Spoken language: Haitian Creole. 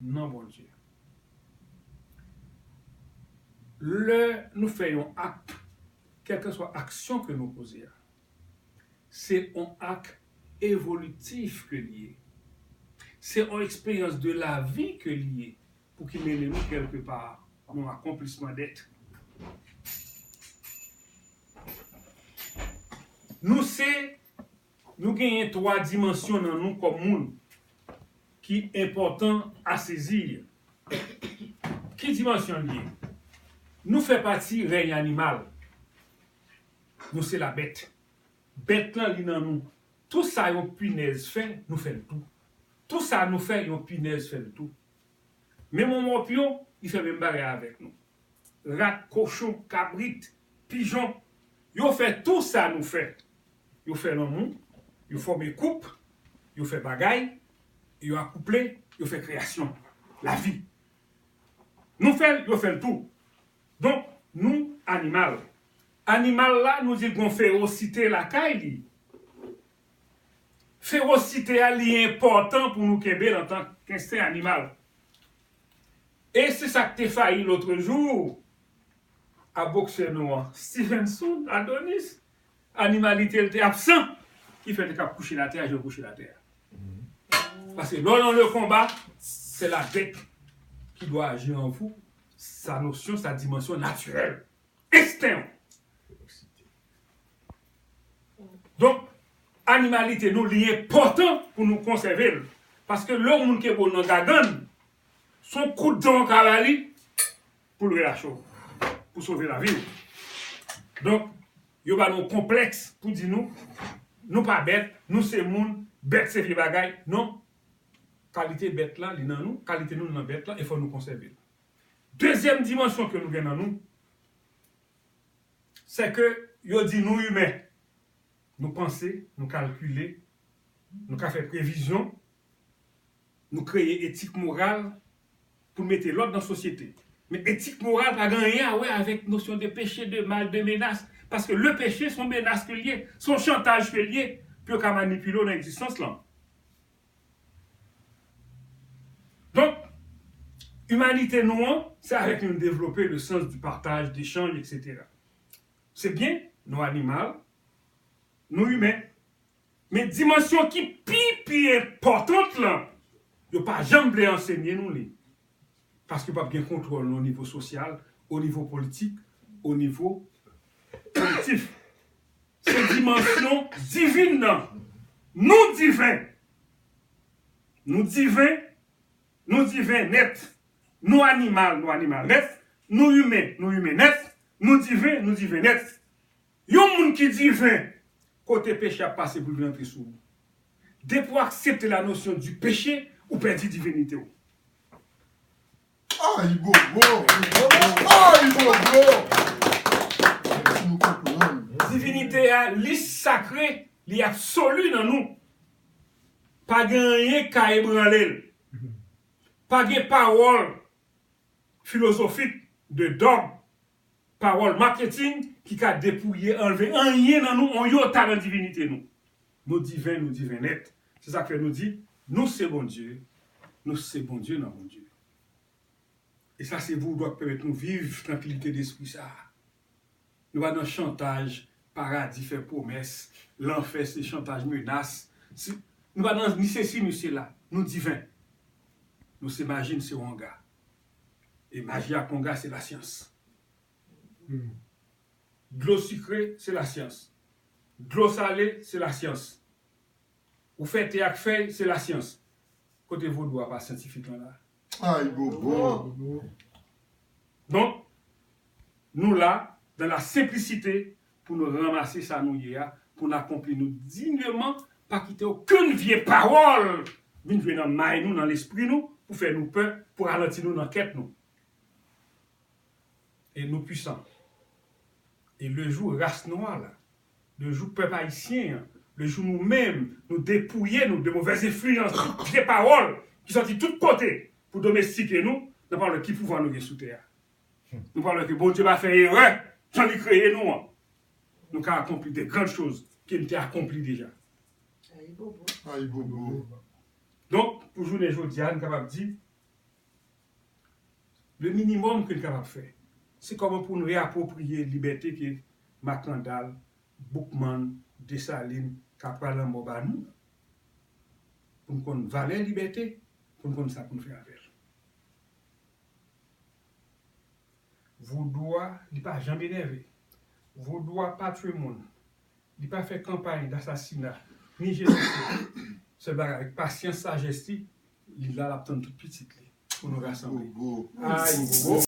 non Bondye. Lè nou fè yon ak, kèlkeswa aksyon ke nou poze a, se on ak evolitif ke li ye. Se on eksperyans de lavi ke li ye pou ki mennen nou kèlke pa nan akonplisman dèt. Nou se. Nou genyen twa dimansyon nan nou kòm moun ki enpòtan a sezi. Ki dimansyon li ye? Nou fè pati rèy animal. Nou se la bèt. Bèt lan li nan nou. Tou sa yon pinèz fè, nou fè l tou. Tou sa nou fè, yon pinèz fè l tou. Men mon mòp yo, li fè menm bagay avèk nou. Rat, kochon, kabrit, pijon, yo fè tou sa nou fè. Yo fè lanmou, yo fòme koup, yo fè bagay, yo akouple, yo fè kreyasyon, lavi. Nou fè l, yo fè l tou. Donk, nou animal. Animal la nou di l gon ferosite lakay li. Fewosite a li enpòtan pou nou kenbe l antan k ensten animal. E se sa k te fayi lotrejou a boksè nou an, Stevenson Adonis. Animalite l te absan ki fè l te ka kouche l atè a jan l kouche l atè a. Paske lè w nan le konba, se la bèt ki dwa aji an vou, sa nosyon, sa dimansyon natirèl. Ensten yo. Donk, animalite nou li enpòtan pou nou konsève l. Paske lè yon moun ke bo nan gagann, se yon kout dan w ka ba li pou l relache w. Pou sove lavi w. Donk, yo ba nou konplèks pou di nou, nou pa bèt, nou se moun, bèt se vye bagay. Non. Kalite bèt la li nan nou, kalite nou li nan bèt la e fò nou konsève l. Dezyèm dimansyon ke nou gen nan nou, sè ke yo di nou imen, nou panse, nou kalkile, nou ka fè previzyon, nou kreye etik moral pou n mete lòd nan sosyete. Men etik moral pa gen anyen a wè avèk nosyon de peche, de mal, de menas, paske le peche son menas ke l ye, son chantaj ke l ye pou yo ka manipile w nan egzistans lan. Donk, imanite nou an, se avèk li nou devlope le sans di pataj, dechanj, eksetera. Se byen, nou animal, nou imen, men dimansyon ki pi pi enpòtant lan, yo pa janm vle ansenye nou li, paske pa p gen kontwòl o nivo sosyal, o nivo politik, o nivo kolektif. se dimansyon divin nan. Nou diven! Nou diven, nou diven nèt. Nou animal, nou animal nèt. Nou imen, nou imen nèt. Nou diven, nou diven nèt. Yon moun ki diven, kote peche ap pase pou l vin antre sou ou? Depi w aksepte la nosyon di peche, ou pèdi divinite w. Ayibobo! Divinite a li sakre, li absoli nan nou. Pa gen anyen k ka ebranle l. Pa gen pawòl filozofik, de dòg, pawòl marketing ki ka depouye anlve anyen nan nou on yota nan divinite nou. Nou diven nou diven nèt se sak fè nou di nou se Bondye nou se Bondye nan Bondye e sa se voudou ak pèmèt nou viv trankilite despri sa nou pa nan chantaj paradi fè pwomès lanfè se chantaj menas se nou pa nan ni sesi ni sela nou diven nou se maji n se wanga. E maji ak konga se lasyans. Dlo sikre se lasyans. Dlo sale se lasyans. Ou fè te ak fèy se lasyans. Kote vodou a pa syantifik lan la? Ayibobo! Donk, nou la, dan la senplisite, pou nou ranmase sa nou ye a, pou n akonpli nou digneman, pa kite okenn vye pawòl vin jwe nan may nou, nan lespri nou, pou fè nou pè, pou ralanti nou nan kèt nou. E nou pwisan. E le jou ras nwa la, le jou pèp ayisyen an, le jou nou menm nou depouye nou de movèz enfliyans, vye pawòl ki sòti tout kote pou domestike nou, nan pawòl ki pouvwa nou gen sou tè a. Nou pral wè ke Bondye pa fè erè tan li kreye nou an. Nou ka akonpli de gran choz ke li te akonpli deja. Ayibobo! Donk, pou jounen jodi a, nou kapab di, le minimòm ke nou kapab fè, se kòman pou nou reapwopriye libète ke Makandal, Boukman, Desalin, Kapra Lanmò ba nou. Pou nou konn valè libète, pou nou konn sa pou nou fè avè l. Vodou a li pa janm enève. Vodou a pa tue moun. Li pa fè kanpay dasasina, ni jenosida. Sèl bagay avèk pasyans sajès li, li la lap tann tout pitit li pou nou rasanble. Ayibobo!